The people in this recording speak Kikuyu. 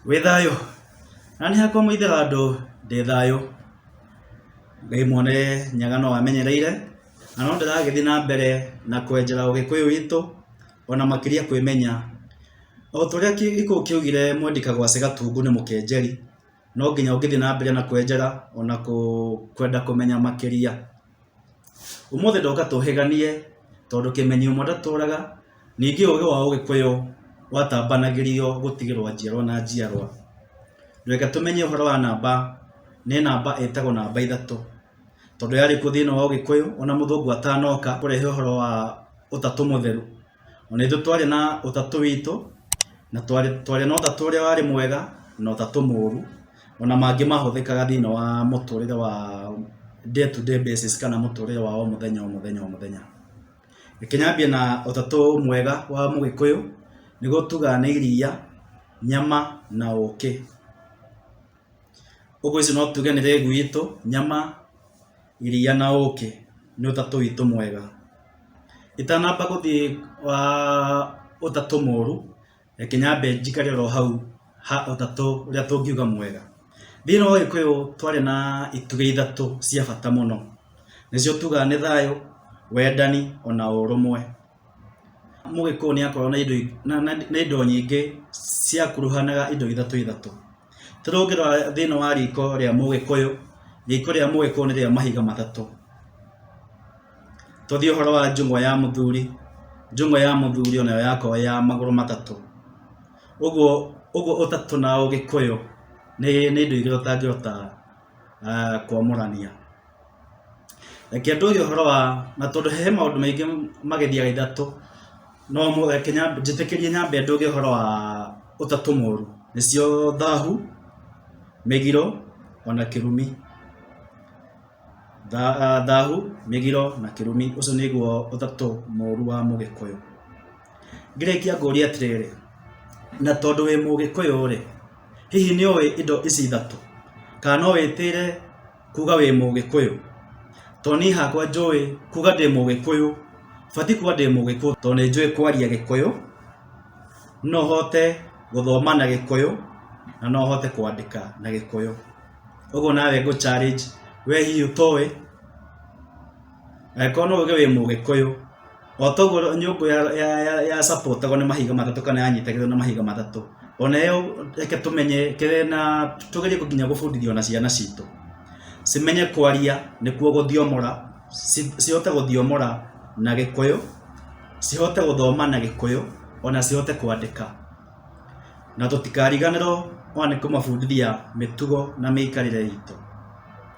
Wĩ thayũ? Na nĩ hakwa mũithĩra andũ ndĩ thayũ. Ngai mwene nyaga no amenyereire, na no ndĩragĩthiĩ na mbere na kwenjera ũgĩkũyũ witũ, ona makĩria kwĩmenya. O ta ũrĩa gĩkũyũ kĩaugire mwendi kagwacĩ gatungu nĩ mũkenjeri, no nginya ũngĩthiĩ na mbere na kwenjera ona kwenda kũmenya makĩria. Ũmũthĩ ndoka tũhĩganie tondũ kĩmenyi ũmwe ndatũraga, ningĩ ũgĩ wa ũgĩkũyũ watambanagĩrio gũtigĩrwo njiarwa na njiarwa. Reke tũmenye ũhoro wa namba, nĩ namba ĩtagwo namba ithatũ, tondũ yarĩ kuo thĩinĩ wa ũgĩkũyũ ona mũthũngũ atanoka kũrehe ũhoro wa ũtatũ mũtheru. O na ithuĩ twarĩ na ũtatũ witũ, na twarĩ na ũtatũ ũrĩa warĩ mwega na ũtatũ mũũru, o na mangĩ mahũthĩkaga thĩinĩ wa mũtũrĩre wa day to day basis kana mũtũrĩre wa o mũthenya o mũthenya o mũthenya. Reke nyambie na ũtatũ mwega wa mũgĩkũyũ, nĩguo tugaga nĩ iria, nyama na ũkĩ. Ũguo ici no tuge nĩ rĩgu itũ, nyama. Iria na ũkĩ nĩ ũtatũ witũ mwega. Itanamba gũthiĩ ũtatũ mũru, reke nyambe njikare oro hau ha ũtatũ ũrĩa tũngiuga mwega. Thĩinĩ wa ũgĩkũyũ twarĩ na itugĩ ithatũ cia bata mũno, nĩcio tugaga nĩ thayũ, wendani ona ũrũmwe. mũgĩkũyũ nĩ akoragwo na indo na, na, na indo nyingĩ ciakuruhanaga indo ithatũ ithatũ tarĩu ũngĩrora thĩinĩ wa riko rĩa mũgĩkũyũ riko rĩa mũgĩkũyũ nĩ rĩa mahiga matatũ tũthiĩ ũhoro wa njũng'wa ya mũthuri njũng'wa ya mũthuri onayo yakorwo ya magũrũ matatũ ũguo ũguo ũtatũ na ũgĩkũyũ nĩ nĩ indo igĩrĩ ũtangĩhota ah, kwamũrania Reke tũge ũhoro wa, na tondũ he maũndũ maingĩ magĩthiaga ithatũ, no ũmwe, reke nyambe, njĩtĩkĩrie nyambe ndũge ũhoro wa ũtatũ mũru, nĩcio thahu, mĩgiro, ona kĩrumi. Thahu, mĩgiro na kĩrumi, ũcio nĩguo ũtatũ mũru wa mũgĩkũyũ. Ngĩrĩkia ngũrie atĩrĩrĩ, na tondũ wĩ mũgĩkũyũ-rĩ, hihi nĩũĩ indo ici ithatũ? Kana no wĩtĩre... kuga wĩ mũgĩkũyũ to niĩ hakwa njũĩ kuga ndĩ mũgĩkũyũ batiĩ kuga ndĩ mũgĩkũyũ to nĩ njũĩ kwaria gĩkũyũ no hote gũthoma na gĩkũyũ na no hote kwandĩka na gĩkũyũ ũguo nawe ngũ challenge we hihi ũtoĩ? Angĩkorwo nĩ ũgĩ wĩ mũgĩkũyũ, o ta ũguo nyũngũ ya support agwo nĩ mahiga matatũ kana yanyitagĩrĩrwo nĩ mahiga matatũ, o na yo reke tũmenye na tũgerie nginya gũbundithia o na ciana citũ, cimenye kwaria nĩkuo gũthiomora, cihote gũthiomora na gĩkũyũ, cihote gũthoma na gĩkũyũ, o na cihote kwandĩka. Na tũtikariganĩrwo o na nĩ kũmabundithia mĩtugo na mĩikarĩre itũ.